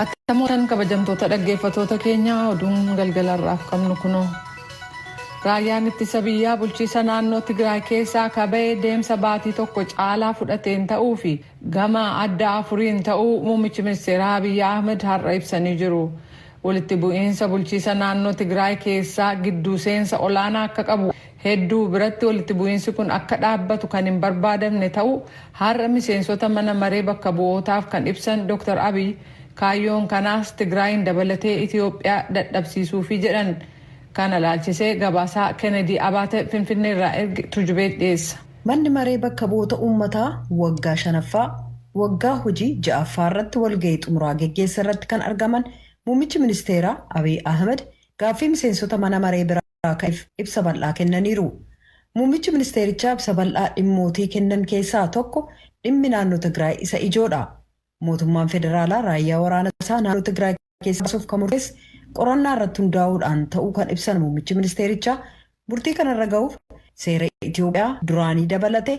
Attam ooltan kabajamtoota dhaggeeffatoota keenya oduun galgala irraaf qabnu kunoo. Raayyaan ittisa biyyaa bulchiisa naannoo Tigraay keessaa kaba'ee deemsa baatii tokko caalaa fudhateen ta'uu fi gama adda afuriin ta'uu muummichi ministeeraa Abiyyi Ahmed har'a ibsanii jiru. Walitti bu'iinsa bulchiisa naannoo Tigraay keessaa gidduu seensa olaanaa akka qabu Hedduu biratti walitti bu'iinsi kun akka dhaabbatu kan hin barbaadamne ta'uu har'a miseensota mana maree bakka bu'ootaaf kan ibsan Dooktar Abiy, kaayyoon kanaas Tigraayiin dabalatee Itiyoophiyaa dadhabsiisuufi jedhan. Kana ilaalchisee gabaasaa Kenedii Abaate Finfinneerraa erge Tujubeet dhiyeessa. Manni Maree Bakka Bu'oota Uummataa waggaa shanaffaa waggaa hojii ja'affaarratti walga'ii xumuraa geggeesserratti kan argaman Muummichi Ministeeraa Abiy Ahimad gaaffii miseensota mana maree biraa irraa ka'eef ibsa bal'aa kennaniiru. Muummichi ministeerichaa ibsa bal'aa dhimmootii kennan keessaa tokko dhimmi naannoo Tigraay isa ijoodha. Mootummaan federaalaa raayyaa waraana isaa naannoo Tigraay keessaa baasuuf kan murteesse qorannaa irratti hundaa'uudhaan ta'uu kan ibsan muummichi ministeerichaa murtii kanarra ga'uuf seera Itoophiyaa duraanii dabalate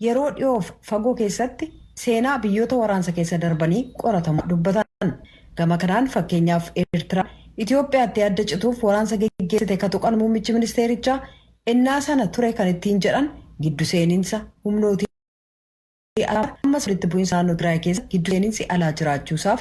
yeroo dhiyoof fagoo keessatti seenaa biyyoota waraansa keessa darbanii qoratamu dubbatan. Gama kanaan fakkeenyaaf Eertiraan Itoophiyaattii adda cituuf waraansa geggeessite ka tuqan muummichi ministeerichaa ennaa sana ture kan ittiin jedhan giddu seeninsa humnootii alaa ammas walitti bu'insa naannoo Tigraay keessatti giddu seeninsi alaa jiraachuusaaf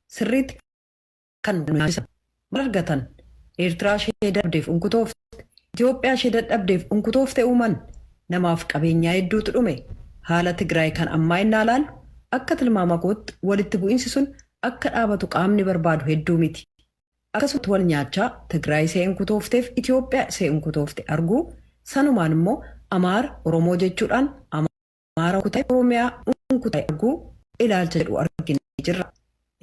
sirriitti kan nu nyaachisa. Maal argatan? Eertiraa ishee dadhabdeef unkutoofte, Itoophiyaa ishee dadhabdeef unkutoofte uuman. Namaaf qabeenyaa hedduutu dhume. Haala Tigraay kan ammaa ennaa ilaallu akka tilmaama kootti walitti bu'insi sun akka dhaabatu qaamni barbaadu hedduu miti. Akkasumatti wal nyaachaa Tigraay isee unkutoofteef Itoophiyaa isee unkutoofte arguu, sanumaan immoo Amaara, Oromoo jechuudhaan, Amaara kutai Oromiyaa un kutai arguu ilaalcha jedhu arginee jirra.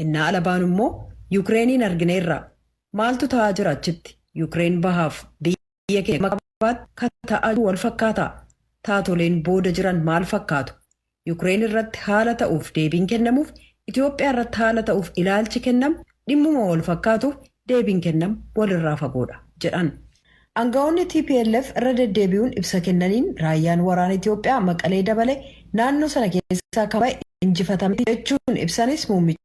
Innaa ala baanu immoo Yukireeniin argineerra. Maaltu ta'aa jira achitti? Yukireen bahaaf biyya keenya gama kaabaatti ka ta'aa jiru wal fakkaata. Taatoleen booda jiran maal fakkaatu? Yukireen irratti haala ta'uuf deebiin kennamuuf, Itoophiyaa irratti haala ta'uuf ilaalchi kennamu dhimmuma wal fakkaatuuf deebiin kennamu walirraa fagoodha jedhan. Angawoonni tplf irra deddeebi'uun ibsa kennaniin raayyaan waraana Itoophiyaa Maqalee dabalee naannoo sana keessaa kan ba'e injifatamee ti jechuun ibsanis muummichi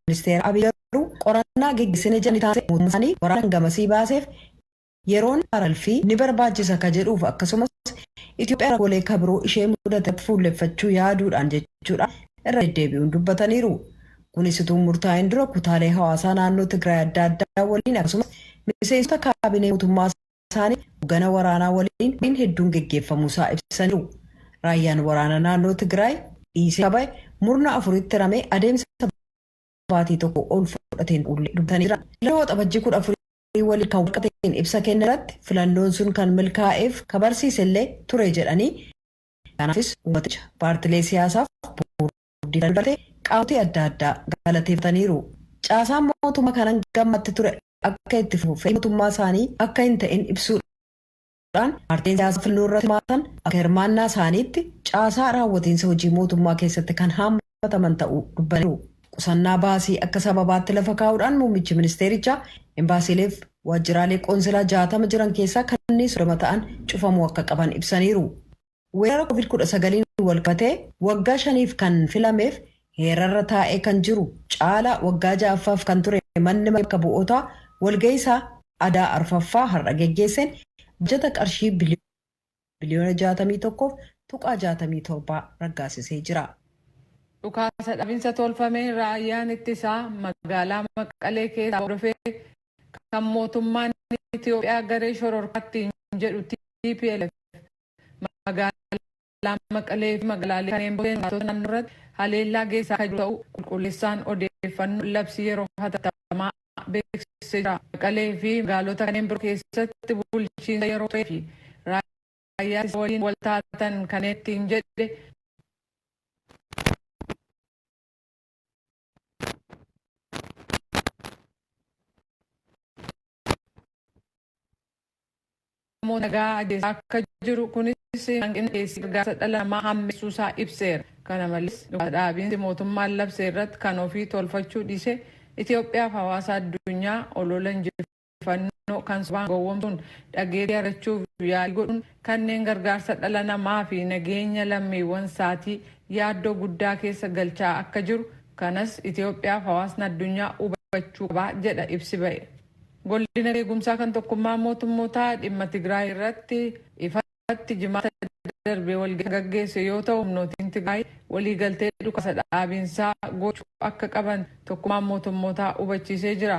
ministeeraa Abiy garuu qorannaa geggeessine jedhanii taasise mootummaan isaanii waraana kan gamasii baaseef yeroon aralfii ni barbaachisa ka jedhuuf akkasumas Itoophiyaa rakkoolee ka biroo ishee mudatetti fuulleffachuu yaaduudhaan jechuudhaan irra deddeebi'uun dubbataniiru. Kunis utuu hin murtaa'in dura kutaalee hawaasaa naannoo Tigraay adda addaa waliin akkasumas miseensota kaabinee mootummaa isaanii hoggana waraanaa waliin mariin hedduun geggeeffamuusaa ibsaniiru. Raayyaan waraana naannoo Tigraay dhiisee kaba'e murna afuritti hiramee adeemsa baatii tokko ol fudhateen uullee dubbatanii jiran. Filannoo Waxabajjii 14 Marii waliin kan walqabateen ibsa kenne irratti filannoon sun kan milkaa'eef ka barsiise illee ture jedhanii kanaafis uummaticha, paartilee siyaasaaf, boordii filannoo dabalatee qaamotii adda addaa galateeffataniiru. Caasaan mootummaa kan hanga ammaatti ture akka itti fufu fedhii mootummaa isaanii akka hin ta'in ibsuudhaan. ta'uudhaan paartileen siyaasaa filannoo irratti hirmaatan akka hirmaannaa isaaniitti caasaa raawwatiinsa hojii mootummaa keessatti kan haammataman ta'uu dubbataniiru. Qusannaa baasii akka sababaatti lafa kaa'uudhaan muummichi ministeerichaa embaasiileef waajjiraalee qoonsilaa 60 jiran keessaa kanneen 30 ta'an cufamuu akka qaban ibsaniiru. Weerara Covid 19n walqabatee waggaa shaniif kan filameef heerarra taa'ee kan jiru caalaa waggaa 6ffaaf kan ture manni maree bakka bu'ootaa walga'ii isaa adaa arfaffaa har'a geggeesseen baajata qarshii biliyoona 61f tuqaa 67 raggaasisee jira. Dhukaasa dhaabinsa tolfameen raayyaan ittisaa magaalaa Maqalee keessaa hordofee kan mootummaan Itiyoophiyaa garee shororkaa ittiin jedhu tplf Magaalaa Maqalee fi magaalaalee kanneen biroo keessatti jiraattota naannoo irratti haleellaa geessisaa kan jiru ta'uu qulqulleessaan odeeffannoo labsii yeroo hatattamaa beeksisee jira. Maqalee fi magaalota kanneen biroo keessatti bulchiinsa yeroo turee fi raayyaa ittisa waliin wal taatan kanneen ittiin jedhe namoota nagaa ajjeesaa akka jiru kunis hanqina dhiyeessii gargaarsa dhala namaa hammeessuu isaa ibseera. Kana malees dhukaasa dhaabiinsi mootummaan labse irratti kan ofii tolfachuu dhiisee Itoophiyaaf hawaasa addunyaa olola injifachuu odeeffannoo kan sobaan gowwomsuun dhageettii argachuuf yaalii godhuun kanneen gargaarsa dhala namaa fi nageenya lammiiwwan isaatii yaaddoo guddaa keessa galchaa akka jiru kanas Itoophiyaaf hawaasni addunyaa hubachuu qaba jedha ibsi ba'e. Golli nageegumsaa kan tokkummaa mootummootaa dhimma Tigraay irratti ifa irratti Jimaata darbe walgahii kan gaggeesse yoo ta'u, humnootiin Tigraay waliigaltee dhukaasa dhaabiinsaa gochuu akka qaban Tokkummaan Mootummootaa hubachiisee jira.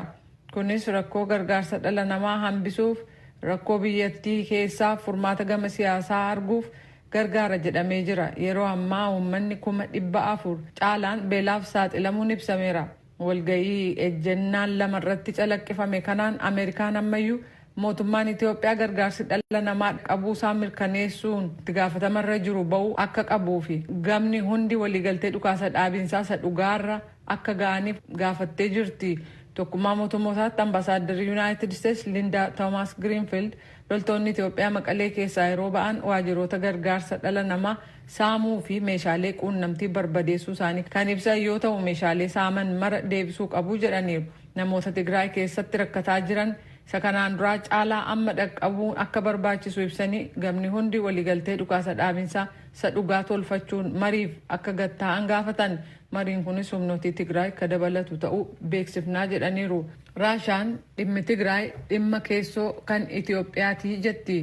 Kunis rakkoo gargaarsa dhala namaa hambisuuf, rakkoo biyyattii keessaaf furmaata gama siyaasaa arguuf gargaara jedhamee jira. Yeroo ammaa uummanni kuma 400 caalaan beelaaf saaxilamuun ibsameera. Walga'ii ejjennaan lama irratti calaqqifame kanaan Ameerikaan ammayyuu mootummaan Itoophiyaa gargaarsi dhala namaa dhaqabuu isaa mirkaneessuun itti gaafatama irra jiru ba'uu akka qabuu fi gamni hundi waliigaltee dhukaasa dhaabiinsaa isa dhugaarra akka ga'aniif gaafattee jirti. Tokkummaa Mootummootaatti Ambaasaaddarri Yunaayitid Isteets Lindaa Toomaas Giriinfiild Loltoonni Itoophiyaa Maqalee keessaa yeroo ba'an waajiroota gargaarsa dhala namaa saamuu fi meeshaalee quunnamtii barbadeessuu isaanii kan ibsan yoo ta'u, meeshaalee saaman mara deebisuu qabu jedhaniiru. Namoota Tigraay keessatti rakkataa jiran isa kanaan duraa caalaa amma dhaqqabuun akka barbaachisu ibsanii, gamni hundi waliigaltee dhukaasa dhaabinsaa isa dhugaa tolfachuun mariif akka gad taa'an gaafatan. Mariin kunis humnootii Tigraay ka dabalatu ta'uu beeksifnaa jedhaniiru. Raashaan dhimmi Tigraay dhimma keessoo kan Itoophiyaati jetti.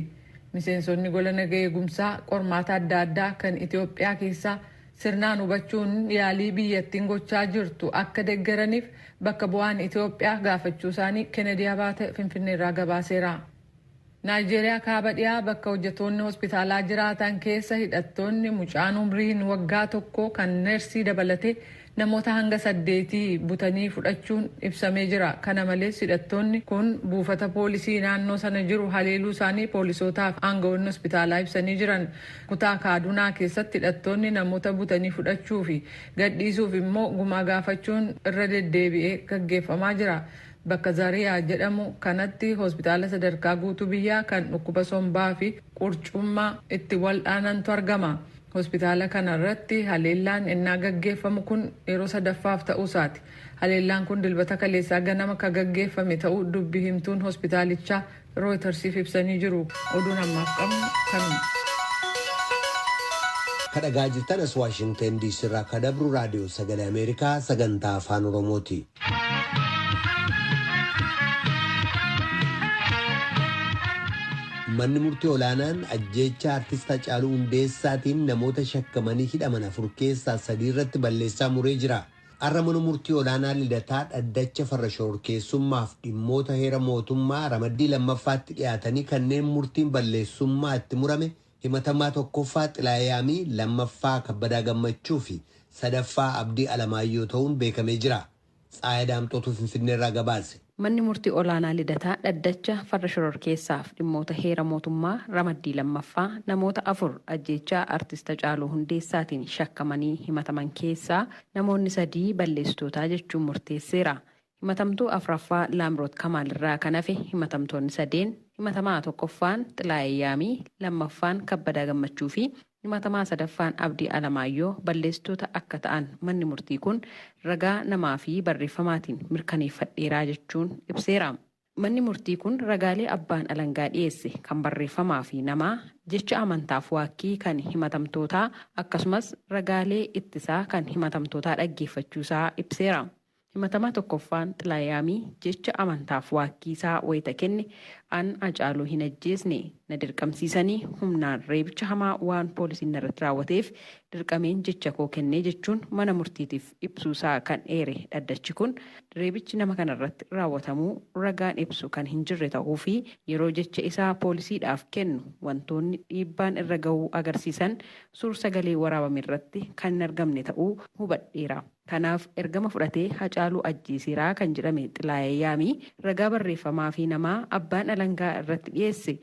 Miseensonni gola naga eegumsaa qormaata adda addaa kan Itoophiyaa keessaa sirnaan hubachuun yaalii biyyattiin gochaa jirtu akka deggeraniif bakka bu'aan Itoophiyaa gaafachuusaanii Kennedy Abaate Finfinneerraa gabaaseera. Naayijeeriyaa Kaaba Dhiyaa bakka hojjetoonni hospitaalaa jiraatan keessa hidhattoonni mucaan umriin waggaa tokkoo kan nersii dabalatee namoota hanga saddeetii butanii fudhachuun ibsamee jira. Kana malees hidhattoonni kun buufata poolisii naannoo sana jiru haleeluu isaanii poolisootaa fi aanga'oonni hospitaalaa ibsanii jiran. Kutaa Kaadunaa keessatti hidhattoonni namoota butanii fudhachuu fi gadhiisuuf immoo gumaa gaafachuun irra deddeebi'ee gaggeeffamaa jira. Bakka Zariyaa jedhamu kanatti hospitaala sadarkaa guutuu biyyaa kan dhukkuba sombaa fi qurcummaa itti waldhaanantu argama. Hospitaala kana irratti haleellaan ennaa gaggeeffamu kun yeroo sadaffaaf ta'uu isaati. Haleellaan kun Dilbata kaleessaa ganama ka gaggeeffame ta'uu dubbi himtuun hospitaalichaa Rooyitarsiif ibsanii jiru. Oduun ammaaf qabnu kanuma. Ka dhagaa jirtan as Waashingtan DC irraa ka dabru raadiyoo sagalee Ameerikaa sagantaa afaan Oromooti. Manni murtii olaanaan ajjeechaa artist Hacaaluu Hundeessaatiin namoota shakkamanii hidhaman afur keessaa sadii irratti balleessaa muree jira. Har'a Mana Murtii Olaanaa Lidataa Dhaddacha Farra Shororkeessummaaf dhimmoota heera mootummaa ramaddii 2ffaatti dhiyaatanii kanneen murtiin balleessummaa itti murame himatamaa 1ffaa Xilaayee Yaamii, 2ffaa Kabbadaa Gammachuu fi 3ffaa Abdii Alamaayyoo ta'uun beekamee jira. Tsahaay Daamxootu Finfinneerraa gabaase. Manni Murtii Olaanaa Lidataa dhaddacha farra shororkeessaaf dhimmoota heera mootummaa ramaddii 2ffaa namoota 4 ajjeechaa Artist Hacaaluu Hundeessaatiin shakkamanii himataman keessaa namoonni sadii balleessitootaa jechuun murteesseera. Himatamtuu 4ffaa Laamroot Kamaal irraa kan hafe himatamtoonni sadeen himatamaa 1ffaan Xilaayee Yaamii, 2ffaan Kabbadaa Gammachuu fi Himatamaa sadaffaan Abdii Alamaayyoo balleessitoota akka ta'an manni murtii kun ragaa namaa fi barreeffamaatiin mirkaneeffadheera jechuun ibseera. Manni murtii kun ragaalee abbaan alangaa dhiyeesse kan barreeffamaa fi namaa, jecha amantaaf waakkii kan himatamtootaa akkasumas ragaalee ittisaa kan himatamtootaa dhaggeeffachuu isaa ibseera. Himatamaa tokkoffaan Xilaayamii jecha amantaaf waakkii isaa wayita kenne an Hacaaluu hin ajjeesne, na dirqamsiisanii humnaan reebicha hamaa waan poolisiin narratti raawwateef dirqameen jecha koo kenne jechuun mana murtiitiif ibsuu isaa kan eere dhaddachi kun, reebichi nama kanarratti raawwatamuu ragaan ibsu kan hin jirre tahuu fi yeroo jecha isaa poolisiidhaaf kennu wantoonni dhiibbaan irra gahuu agarsiisan suur-sagalee waraabamerratti kan hin argamne ta'uu hubadheera. Kanaaf ergama fudhatee Hacaaluu ajjeeseera kan jedhame Xilaayee Yaamii ragaa barreeffamaa fi namaa abbaan alangaa irratti dhiyeesse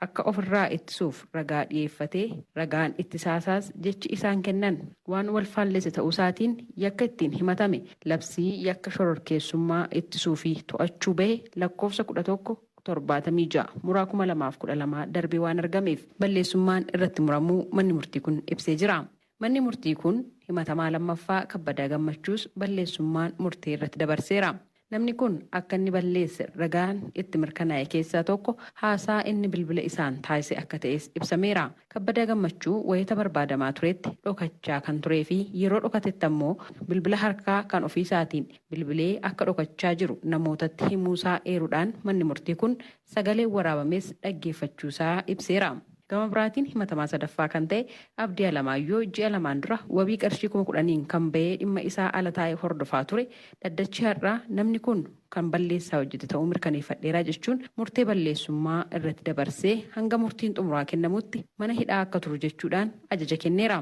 akka of irraa ittisuuf ragaa dhiyeeffatee ragaan ittisaasaas jechi isaan kennan waan wal faallesse ta'uusaatiin yakka ittiin himatame labsii yakka shororkeessummaa ittisuu fi to'achuu bahe lakkoofsa 11 76 muraa 2012 darbee waan argameef balleessummaan irratti muramuu manni murtii kun ibsee jira. Manni murtii kun himatamaa lammaffaa Kabbadaa Gammachuus balleessummaan murtee irratti dabarseera. Namni kun akka inni balleesse ragaan itti mirkanaa'e keessaa tokko haasaa inni bilbila isaan taasise akka ta'es ibsameera. Kabbadaa Gammachuu wayita barbaadamaa turetti dhokachaa kan turee fi yeroo dhokatetti ammoo bilbila harkaa kan ofiisaatiin bilbilee akka dhokachaa jiru namootatti himuusaa eeruudhaan manni murtii kun sagaleen waraabames dhaggeeffachuusaa ibseera. Gama biraatiin himatamaa sadaffaa kan ta'e Abdii Alamaayyoo ji'a lamaan dura wabii qarshii kuma kudhaniin kan bahee dhimma isaa ala taa'ee hordofaa ture dhaddachi har'aa namni kun kan balleessaa hojjete ta'uu mirkaneeffadheera jechuun murtee balleessummaa irratti dabarsee hanga murtiin xumuraa kennamutti mana hidhaa akka turu jechuudhaan ajaja kenneera.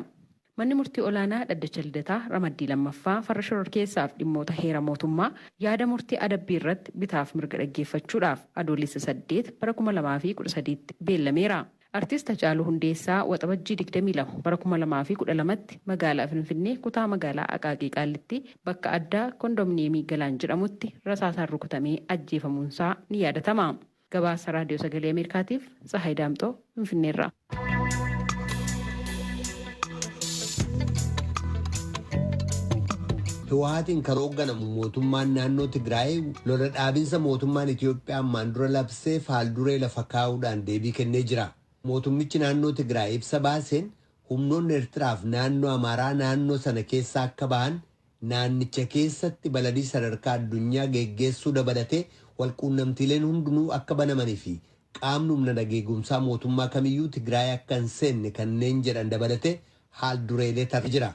Manni Murtii Olaanaa Dhaddacha Lidataa Ramaddii 2ffaa Farra Shororkeessaaf Dhimmoota Heera Mootummaa yaada murtii adabbii irratti bitaaf mirga dhaggeeffachuudhaaf Adoolessa 8 bara 2013tti beellameera. Artist Hacaaluu Hundeessaa Waxabajjii 22 bara 2012tti magaalaa Finfinnee kutaa magaalaa Aqaaqii Qaallittii bakka addaa Kondominiyeemii Galaan jedhamutti rasaasaan rukutamee ajjeefamuunsaa ni yaadatama. Gabaasa Raadiyoo Sagalee Ameerikaatiif Tsahaay Daamxoo Finfinneerraa. Hiwaatiin kan hoogganamu mootummaan naannoo Tigraay lola dhaabinsa mootummaan Itoophiyaa ammaan dura labsee faalduree lafa kaa'uudhaan deebii kennee jira. Mootummichi naannoo Tigraay ibsa baaseen humnoonni Eertiraaf naannoo Amaaraa naannoo sana keessaa akka bahan Naannicha keessatti balalii sadarkaa addunyaa geggeessuu dabalatee walquunnamtiileen hundinuu akka banamani fi qaamni humna nageegumsaa mootummaa kamiyyuu Tigraay akka hin seenne kanneen jedhan dabalatee haal-dureelee tarreessee jira.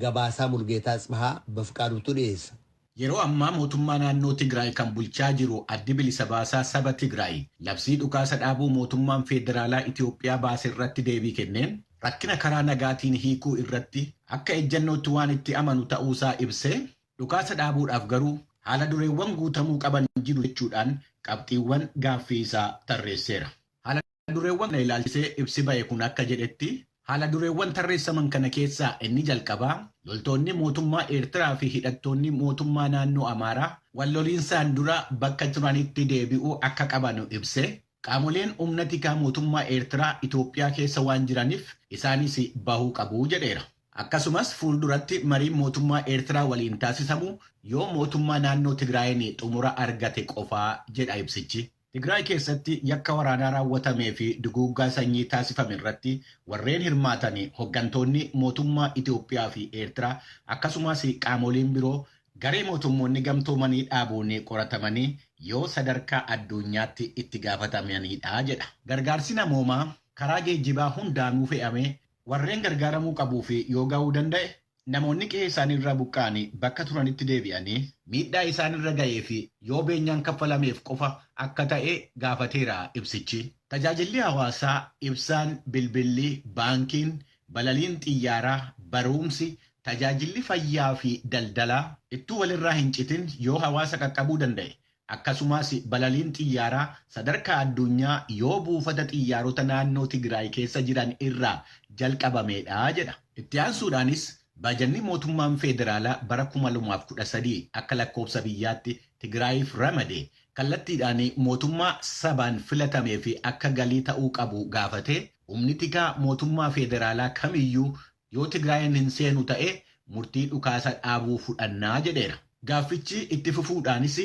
Gabaasaa Mulgeetaa Atsbahaa Bafqaaduutu dhiyeessa. Yeroo ammaa mootummaa naannoo Tigraay kan bulchaa jiru Addi Bilisa Baasaa Saba Tigraay labsii dhukaasa dhaabuu mootummaan feederaalaa Itoophiyaa baase irratti deebii kenneen, rakkina karaa nagaatiin hiikuu irratti akka ejjannootti waan itti amanu ta'uusaa ibsee, dhukaasa dhaabuudhaaf garuu haala dureewwan guutamuu qaban jiru jechuudhaan qabxiiwwan gaaffii isaa tarreesseera. Haala dureewwan kana ilaalchisee ibsi ba'e kun akka jedhetti, haala dureewwan tarreessaman kana keessaa inni jalqabaa loltoonni mootummaa Eertiraa fi hidhattoonni mootummaa naannoo Amaaraa wal loliinsaan dura bakka turanitti deebi'uu akka qabanu ibsee, Qaamoleen humna tikaa mootummaa Eertiraa Itoophiyaa keessa waan jiraniif isaanis bahuu qabu jedheera. Akkasumas fuulduratti mariin mootummaa Eertiraa waliin taasisamu yoo mootummaa naannoo Tigraayiin xumura argate qofa jedha ibsichi. Tigraay keessatti yakka waraanaa raawwatamee fi duguuggaa sanyii taasifame irratti warreen hirmaatan hoggantoonni mootummaa Itoophiyaa fi Eertiraa akkasumas qaamoleen biroo Garee Mootummoonni Gamtoomanii dhaabuun qoratamanii yoo sadarkaa adduunyaatti itti gaafatamaniidha jedha. Gargaarsi namoomaa karaa geejjibaa hundaanuu fe'amee warreen gargaaramuu qabuuf yoo gahuu danda'e, namoonni qe'ee isaanii irraa buqqa'anii bakka turanitti deebi'anii miidhaa isaan irra gaheef yoo beenyaan kaffalameef qofa akka ta'e gaafateera ibsichi. Tajaajilli hawaasaa, ibsaan, bilbilli, baankiin, Balaliin xiyyaaraa, baruumsi, tajaajilli fayyaa fi daldalaa ittuu walirraa hin citin yoo hawaasa qaqqabuu danda'e, akkasumaas balaliin xiyyaaraa sadarkaa adduunyaa yoo buufata xiyyaarota naannoo Tigiraay keessa jiran irraa jalqabameedha jedha. Itti aansuudhaanis baajanni mootummaan feederaalaa bara 2013 akka lakkoobsa biyyaatti Tigiraayiif ramade kallattiidhaan mootummaa sabaan filatameef akka galii ta'uu qabu gaafatee, Humni tikaa mootummaa feederaalaa kamiyyuu yoo Tigraayiin hin seenu ta'e murtii dhukaasa dhaabuu fudhanna, jedheera. Gaaffichi itti fufuudhaanis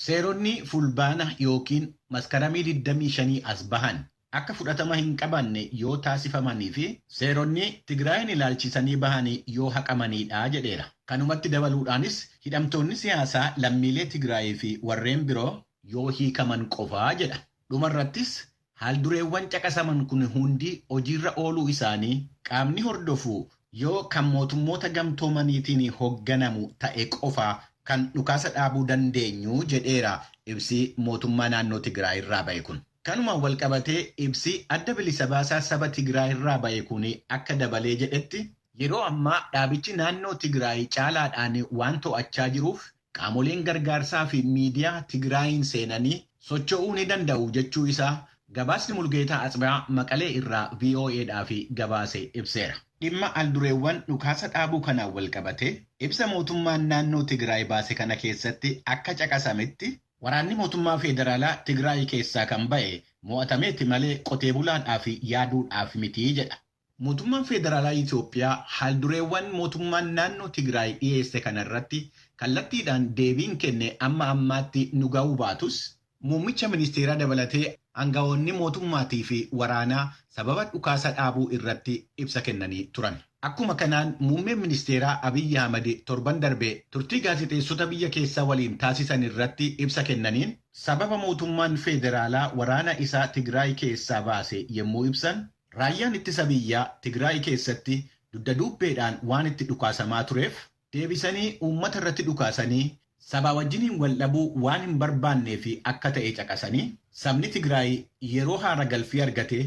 seeronni Fulbaana ykn Maskaramii digdamii shanii as bahan akka fudhatama hin qabanne yoo taasifamanii fi seeronni Tigraayiin ilaalchisanii bahan yoo haqamaniidha, jedheera. Kanumatti dabaluudhaanis hidhamtoonni siyaasaa lammiilee Tigraayii fi warreen biroo yoo hiikaman qofa, jedha. Dhumarrattis Haaldureewwan caqasaman kun hundi hojiirra ooluu isaanii qaamni hordofu yoo kan Mootummoota Gamtoomaniitiin hogganamu ta'e qofa kan dhukaasa dhaabuu dandeenyu jedheera ibsi Mootummaa Naannoo Tigiraay irraa ba'e kun. Kanumaan walqabatee ibsi Adda Bilisa Baasaa Saba Tigiraay irraa ba'e kun akka dabalee jedhetti, yeroo ammaa dhaabichi naannoo Tigiraay caalaadhaan waan to'achaa jiruuf Qaamoleen gargaarsaa fi miidiyaa Tigraayiin seenanii socho'uu ni danda'u jechuu isaa gabaasni Mulgeetaa Atsbhaa Maqalee irraa VOAdhaaf gabaase ibseera. Dhimma aldureewwan dhukaasa dhaabuu kanaan walqabatee ibsa mootummaan naannoo Tigraay baase kana keessatti akka caqasametti, waraanni mootummaa feederaalaa Tigraay keessaa kan ba'e mo'atameeti malee qotee bulaadhaaf yaaduudhaaf miti jedha. Mootummaan Feederaalaa Itoophiyaa haaldureewwan mootummaan naannoo Tigraay dhiyeesse kana irratti kallattiidhaan deebiin kenne amma ammaatti nu ga'uu baatus, muummicha ministeeraa dabalatee aanga'oonni mootummaatii fi waraanaa sababa dhukaasa dhaabuu irratti ibsa kennanii turan. Akkuma kanaan muummeen ministeeraa Abiy Ahimad torban darbe turtii gaazexeessota biyya keessaa waliin taasisan irratti ibsa kennaniin, sababa mootummaan feederaalaa waraana isaa Tigraay keessaa baase yemmuu ibsan, Raayyaan Ittisa Biyyaa Tigraay keessatti dugda duubbeedhaan waan itti dhukaasamaa tureef deebisanii uummata irratti dhukaasanii sabaa wajjiniin wal dhabuu waan hin barbaanneef akka ta'e caqasanii, sabni Tigraay yeroo haara galfii argate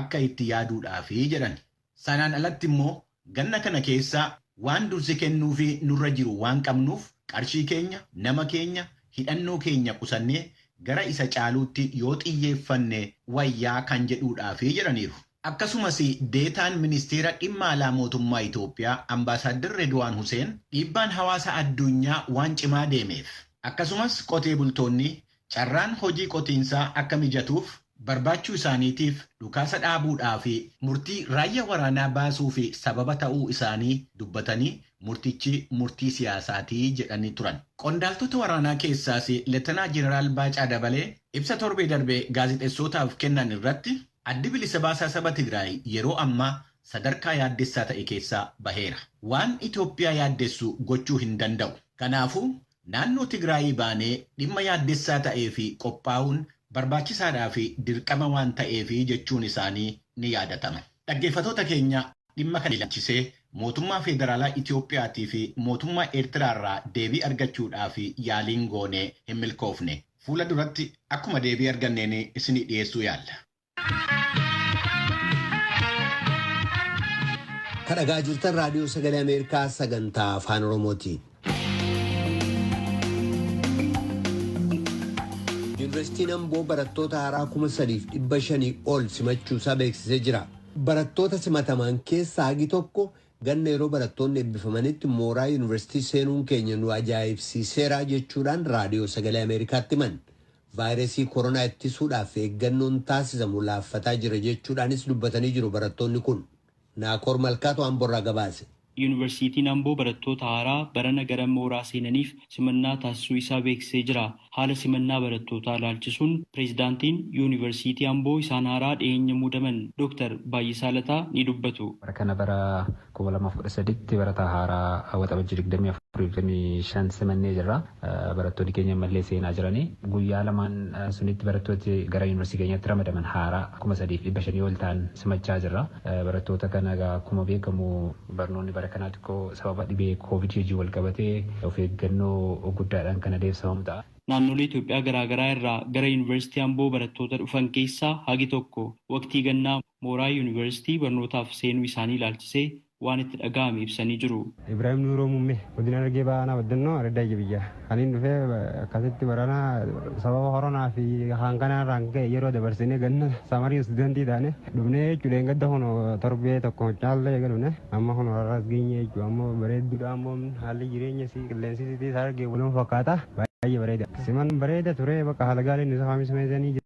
akka itti yaaduudhaafi jedhan. Sanaan alatti immoo Ganna kana keessa waan dursi kennuufi nurra jiru waan qabnuuf qarshii keenya, nama keenya, hidhannoo keenya qusannee gara isa caaluutti yoo xiyyeeffanne wayya kan jedhuudhaafi jedhaniiru. Akkasumas Deetaan Ministeera Dhimma Alaa Mootummaa Itoophiyaa Ambaasaaddar Reedwaan Huseen dhiibbaan hawaasa addunyaa waan cimaa deemeef akkasumas qotee bultoonni carraan hojii qotiinsaa akka mijatuuf barbaachuu isaaniitiif dhukaasa dhaabuudhaa fi murtii raayyaa waraanaa baasuuf sababa ta'uu isaanii dubbatanii murtichi murtii siyaasaati jedhanii turan. Qondaaltota waraanaa keessaas Letenaa Jeneraal Baacaa Dabalee ibsa torbee darbe gaazexessootaaf kennan irratti Addi Bilisa Baasaa Saba Tigraay yeroo ammaa sadarkaa yaaddessaa ta'e keessaa baheera. Waan Itoophiyaa yaaddessu gochuu hin danda'u. Kanaafuu Naannoo Tigraayii baanee dhimma yaaddessaa ta'eef qophaa'uun barbaachisaadhaa fi dirqama waan ta'eef jechuun isaanii ni yaadatama. Dhaggeeffatoota keenya dhimma kana ilaalchisee mootummaa Feederaalaa Itoophiyaatii fi mootummaa Eertiraarraa deebii argachuudhaaf yaaliin goone hin milkoofne. Fuula duratti akkuma deebii arganneen isinii dhiyeessuu yaalla. kadhagaa jirtan raadiyoo sagalee ameerikaa sagantaa afaan oromooti. yuunivarsiitiin amboo barattoota haaraa kuma sadiif dhibba shanii ol simachuusaa beeksisee jira barattoota simataman keessaa hagi tokko ganna yeroo barattoonni eebbifamanitti mooraa yuunivarsiitii seenuun keenya nu ajaa'ibsiiseeraa jechuudhaan raadiyoo sagalee ameerikaatti himan Vaayirasii koronaa ittisuudhaaf eeggannoon taasisamu laaffataa jira jechuudhaanis dubbatanii jiru barattoonni kun. Naakoor Malkaatu Amborraa gabaase. Yuunivarsiitiin Amboo barattoota haaraa barana gara mooraa seenaniif simannaa taasisuu isaa beeksisee jira. Haala simannaa barattootaa ilaalchisuun Pireezidaantiin Yuunivarsiitii Amboo isaan haaraa dhiheenya muudaman Doktar Baay'isaa Lataa ni dubbatu. Bara kana bara 2013tti barataa haaraa Waxabajjii 24 fi 25 simannee jirra. Barattoonni keenya ammallee seenaa jirani. Guyyaa lamaan sunitti barattooti gara Yuunivarsiitii keenyaatti ramadaman haaraa 3,500 ol ta'an simachaa jirra. Barattoota kana egaa akkuma beekamu barnoonni bara kanaa xiqqoo sababa dhibee Covid wajjin wal qabatee of eeggannoo guddaadhaan kan adeemsifamu ta'a. Naannolee Itoophiyaa garaagaraa irraa gara Yuunivarsiitii Amboo barattoota dhufan keessaa hagi tokko waqtii gannaa mooraa Yuunivarsiitii barnootaaf seenuu isaanii ilaalchisee waan itti dhaga'ame ibsanii jiru. Ibraahim Nuuroo Muummee, Godina Harargee Bahaa Aanaa Baddannoo Araddaa Ija Biyyaa. Kan inni dhufe akkasitti barana sababa koronaa fi kan kanaa irraan ka'e yeroo dabarsinee ganna samarii istuudantii taane dhufnee jechuudha. Dheengadda kun torbee tokko caallee eega dhufne amma kun har'as geenye jechuudha. Amma bareedduudha ammoo haalli jireenya isii qilleensi isii harargee wal fakkaata baay'ee bareeda. Siman bareeda ture bakka haala gaariin isa kaamismeesanii jira.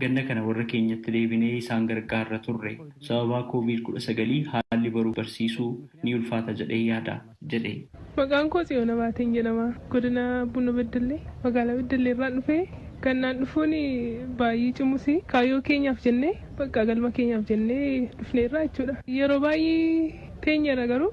Ganna kana warra keenyatti deebinee isaan gargaarra turre. Sababaa Covid 19 haalli baruu barsiisuu ni ulfaata jedhee yaada, jedhe. Maqaan koo Tsiyoon Abaateen jedhama. Godina Buno Beddellee magaalaa Beddellee irraan dhufe. Gannaan dhufuun baay'ee cimus kaayyoo keenyaaf jennee bakka galma keenyaaf jennee dhufneerra jechuudha. Yeroo baay'ee teenyeerra garuu.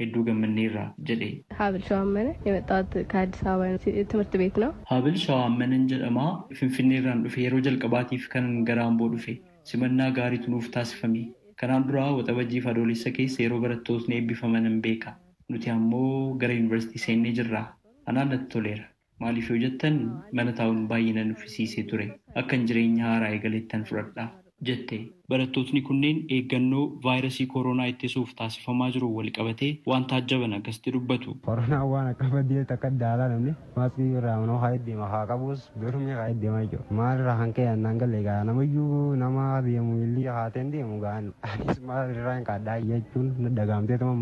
hedduu gammanneerra jedhe. Haabil Shawaammana, Yemettaawat ka Addis Ababa Timirti Beet Now. Haabil Shawaammanan jedhama. Finfinneerraan dhufe. Yeroo jalqabaatiif kanan gara Amboo dhufe. Simannaa gaariitu nuuf taasifame. Kanaan dura Waxabajjiifi Adoolessa keessa yeroo barattootni eebbifamanan beeka. Nuti ammoo gara yunivarsiitii seennee jirra. Anaan natti toleera. Maaliif yoo jettan mana taa'uun baay'ee na nuffisiisee ture. Akkan jireenya haaraa eegalettan fudhadha. jette. Barattootni kunneen eeggannoo vaayrasii koroonaa ittisuuf taasifamaa jiruun walqabatee waan taajjaban akkasitti dubbatu. Koronaan waan akka baddeetti akka adda alaa namni maaskii birraa manuma kaa'ee deema haa qabuus dormii kaa'ee deema jechuudha. Maalirraa kan ka'e naan galle egaa namayyuu nama deemu miilli haatee hin deemu egaa Anis maal irraa hin kaadhaa jechuun na dhagaamteetuma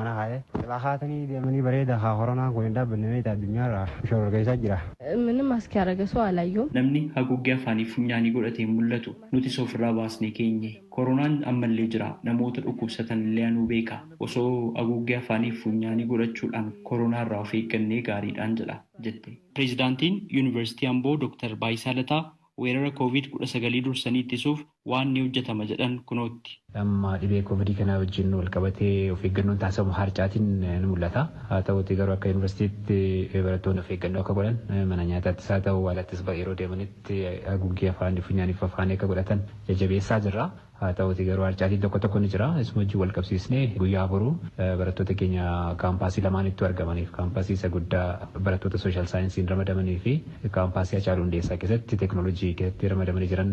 mana kaa'ee. Silaa kaatanii deemanii bareeda haa koronaan kun hin dhaabbanne meeta addunyaarraa shororkeessaa jira. Mini mask yaaraga soo alayyo. Namni haguuggii afaaniif funyaanii godhate hin mul'atu. Nutis ofirraa baasnee keenye. Koronaan ammallee jira. Namoota dhukkubsatanillee anuu beeka. Osoo aguuggii afaaniif funyaanii godhachuudhaan koronaa irraa of eeggannee gaariidhaan jedha, jette. Pireezidaantiin Yuunivarsiitii Amboo Doktar Baayisaa Lataa Weerara Covid 19 dursanii ittisuuf waan ni hojjetama jedhan kunootti. Amma dhibee Covid kanaa wajjin walqabatee of eeggannoon taasifamu haarcaatiin ni mul'ata. Haa ta'uutii garuu akka Yuunivarsiitiitti barattoonni of eeggannoo akka godhan, mana nyaataattis haa ta'u awwaalattis yeroo deemanitti haguuggii afaanii, funyaanii fi afaanii akka godhatan jajjabeessaa jirra. Haa ta'uutii garuu harcaatiin tokko tokko ni jira. Isuma wajjin wal qabsiisnee guyyaa boruu barattoota keenya kaampaasii lamaanittuu argamaniif, kaampaasii isa guddaa barattoota Social Science'n ramadamanii fi kaampaasii Hacaaluu Hundeessaa keessatti Technology keessatti ramadamanii jiran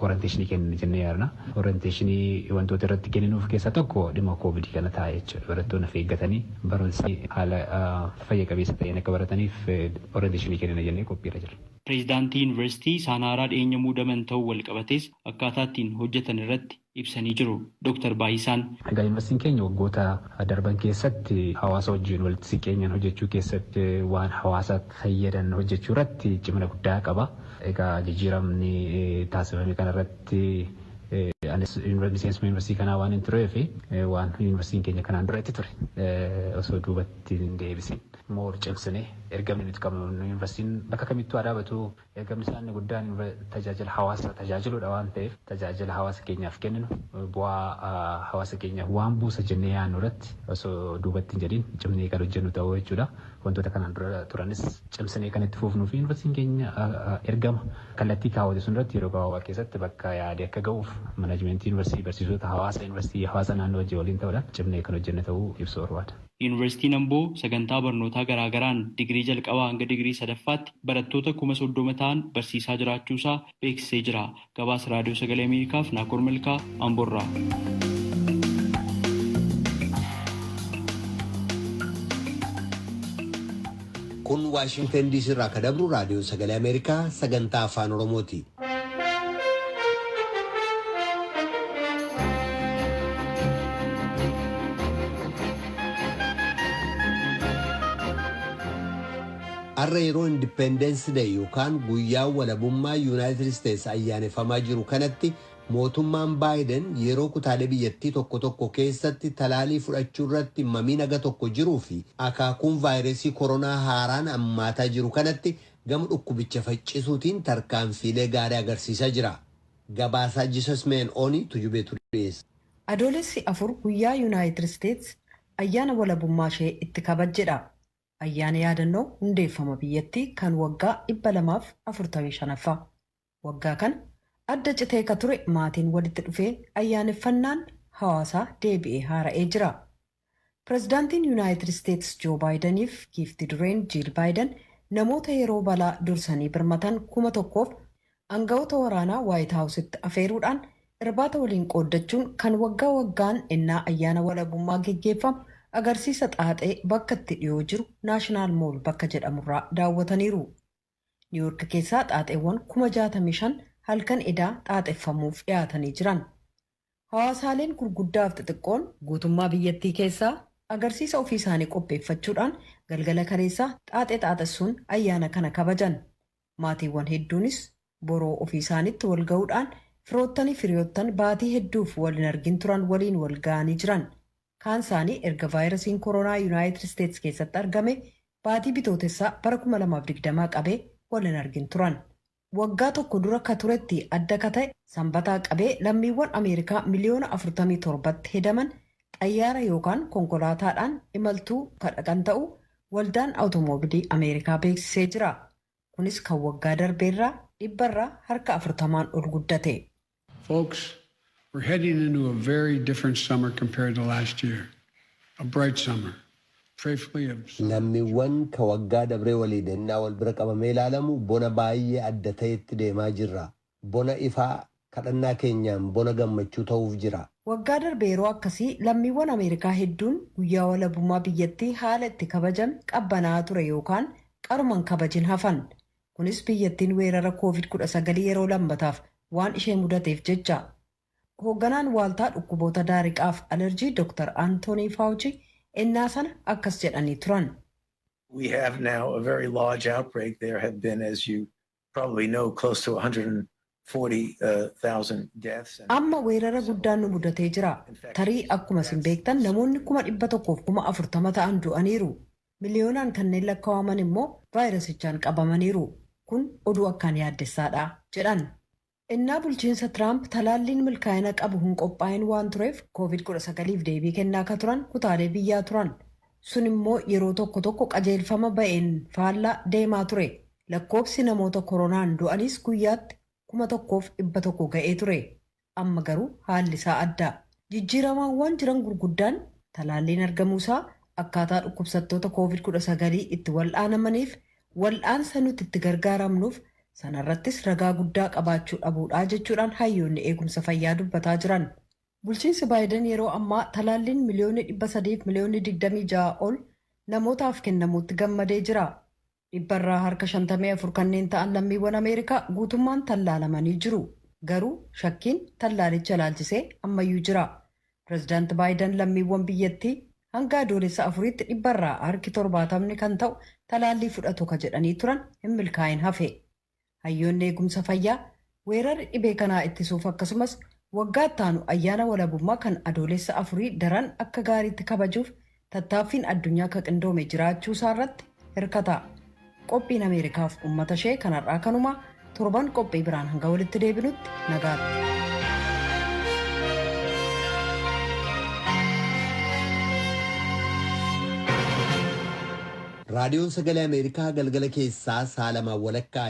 orientation kennina jennee yaadna. Orientation wantoota irratti kenninuuf keessaa tokko dhimma Covid kana ta'a jechuudha. Barattoonni of eeggatanii barumsa isaanii haala fayya qabeessa ta'een akka barataniif orientation kennina jennee qophii irra jirra. Pireezidaantii Yuunivarsiitii isaan haaraa dhiyeenya muudaman ta'uun walqabatees akkaataa ittiin hojjetan irratti ibsanii jiru Doktar Baayisaan. Egaa Yuunivarsiitiin keenya waggoota darban keessatti hawaasa wajjin walitti siqeenyaan hojjechuu keessatti waan hawaasa fayyadan hojjechuu irratti cimina guddaa qaba. Egaa jijjiiramni taasifame kana irratti anis miseensuma yuunivarsiitii kanaa waanin tureef waan yuunivarsiitiin keenya kanaan dura itti ture osoo duubatti hin deebisin moor cimsinee ergamni nuti qabnu yuunivarsiitiin bakka kamittuu haa dhaabatu Eegamsaa inni guddaan tajaajila hawaasa tajaajiluudha waan ta'eef tajaajila hawaasa keenyaaf kenninu bu'aa hawaasa keenyaaf waan buusa jennee yaadnu irratti osoo duubatti hin jedhiin cimnee kan hojjennu ta'uu jechuudha. Wantoota kanaan dura turanis cimsinee kan itti fuufnuu fi yuunivarsiitiin keenya ergama kallattii kaawwate sun irratti yeroo gabaabaa keessatti bakka yaade akka ga'uuf manajmentii yuunivarsiitii, barsiisota, hawaasa yuunivarsiitii, hawaasa naannoo wajjin waliin ta'uudhaan cimnee kan hojjenne ta'uu ibsuu barbaada. Yuunivarsiitiin Amboo sagantaa barnootaa garaagaraan digirii jalqabaa hanga digirii sadaffaatti barattoota kuma 30 ta'an barsiisaa jiraachuusaa beeksisee jira. Gabaasa Raadiyoo Sagalee Ameerikaaf Naakoor Malkaa Amboorraa. kun waashingtan diisii irraa ka dabru raadiyoo sagalee ameerikaa sagantaa afaan oromooti. Har'a yeroo Independence Day yookaan guyyaa walabummaa Yuunaayitid Isteets ayyaanefamaa jiru kanatti mootummaan Baayiden yeroo kutaalee biyyattii tokko tokko keessatti talaalii fudhachuu irratti mamiin aga tokko jiruu fi akaakuun vaayiresii koronaa haaraan ammaataa jiru kanatti gama dhukkubicha faccisuutiin tarkaanfiilee gaarii agarsiisaa jira. Gabaasaa Jesus Main Oni Tujubeetu dhiyeessa. Adoolessi 4 guyyaa Yunaayitid Isteets ayyaana walabummaa ishee itti kabajjedha. Ayyaana yaadannoo hundeeffama biyyattii kan waggaa 245ffaa. Waggaa kana adda citee ka ture maatiin walitti dhufee ayyaaneffannaan hawaasaa deebi'ee haara'ee jira. Pirezidaantiin Yunaayitid Isteetis Joo Baayidaniif giifti dureen Jiil Baayidan namoota yeroo balaa dursanii birmatan kuma tokkoof angawoota waraanaa Waayit Haawusitti afeeruudhaan irbaata waliin qooddachuun kan waggaa waggaan ennaa ayyaana walabummaa geggeeffamu agarsiisa xaaxee bakka itti dhiyoo jiru Naashinaal Mool bakka jedhamurraa daawwataniiru. Niiwoork keessaa xaaxeewwan kuma 65 halkan edaa xaaxeffamuuf dhiyaatanii jiran. Hawaasaaleen gurguddaaf xixiqqoon guutummaa biyyattii keessaa agarsiisa ofii isaanii qopheeffachuudhaan galgala kaleessaa xaaxee xaaxessuun ayyaana kana kabajan. Maatiiwwan hedduunis boroo ofii isaaniitti wal ga'uudhaan firoottaniif hiriyoottan baatii hedduuf wal hin argin turan waliin wal ga'anii jiran. Kaan isaanii erga vaayirasiin koronaa Yunaayitid Isteets keessatti argame baatii Bitootessaa bara 2020 qabee wal hin argin turan. Waggaa tokko dura ka turetti adda ka ta'e Sambataa qabee lammiiwwan Ameerikaa miliyoona 47tti hedaman xayyaara yookaan konkolaataadhaan imaltuu ka dhaqan ta'uu Waldaan Awutomoobilii Ameerikaa beeksisee jira. Kunis kan waggaa darbeerraa dhibbarraa harka 40n ol guddate. Folks, we're heading into a very different summer compared to last year. A bright summer. Prayerfully a summer of joy. Lammiwwan ka waggaa dabree waliin ennaa wal bira qabamee ilaalamu bona baay'ee adda ta'etti deemaa jirra. Bona ifaa, kadhannaa keenyaan bona gammachuu ta'uuf jira. Waggaa darbe yeroo akkasii lammiwwan Ameerikaa hedduun guyyaa walabummaa biyyattii haala itti kabajame qabbanaa'aa ture yookaan qaruma hin kabajin hafan. Kunis biyyattiin weerara Koovid 19 yeroo lammataaf waan ishee mudateef jecha. Hoogganaan Waaltaa Dhukkuboota Daariqaaf Alerjii Doktar Antoonii Faawuchii ennaa sana akkas jedhanii turan. We have now a very large outbreak. There have been, as you probably know, close to 100 Amma weerara guddaan nu mudatee jira. Tarii akkuma isin beektan namoonni 140,000 ta'an du'aniiru. Miliyoonaan kanneen lakkawaman immoo vaayirasichaan qabamaniiru. Kun oduu akkaan yaaddessaa dha, jedhan. Ennaa bulchiinsa Tiraamp talaalliin milkaa'ina qabu hin qophaa'in waan tureef Koovid 19f deebii kennaa akka turan kutaalee biyyaa turan. Sun immoo yeroo tokko tokko qajeelfama ba'een faallaa deemaa ture. Lakkoofsi namoota koronaan du'aniis guyyaatti 1,100 ga'ee ture. Amma garuu haalli isaa adda. Jijjiiramaawwaan jiran gurguddaan talaalliin argamuu isaa, akkaataa dhukkubsattoota Covid 19 itti wal'aanamaniif wal'aansa nuti itti gargaaramnuuf sana irrattis ragaa guddaa qabaachuu dhabuudha jechuudhaan hayyoonni eegumsa fayyaa dubbataa jiran. Bulchiinsi Baayiden yeroo ammaa talaalliin miliyoonni 300 fi miliyoonni 26 ol namootaaf kennamuutti gammadee jira. Dhibbarraa harka 54 kanneen ta'an lammiiwwan Ameerikaa guutummaan tallaalamanii jiru. Garuu shakkiin tallaalicha ilaalchisee ammayyuu jira. Pirezidaanti Baayidan lammiiwwan biyyattii hanga Adoolessa 4tti dhibbarraa harki 70 kan ta'u talaallii fudhatu ka jedhanii turan hin milkaa'in hafe. Hayyoonni eegumsa fayyaa weerarri dhibee kanaa ittisuuf akkasumas waggaa ittaanu ayyaana walabummaa kan Adoolessa afurii daran akka gaariitti kabajuuf tattaaffiin addunyaa ka qindoome jiraachuusaarratti hirkata. Qophiin Ameerikaaf ummatashee kan har'aa kanuma torban qophii biraan hanga walitti deebinutti nagaatti. Raadiyoon Sagalee Ameerikaa galgala keessaa sa'a lamaan walakkaa.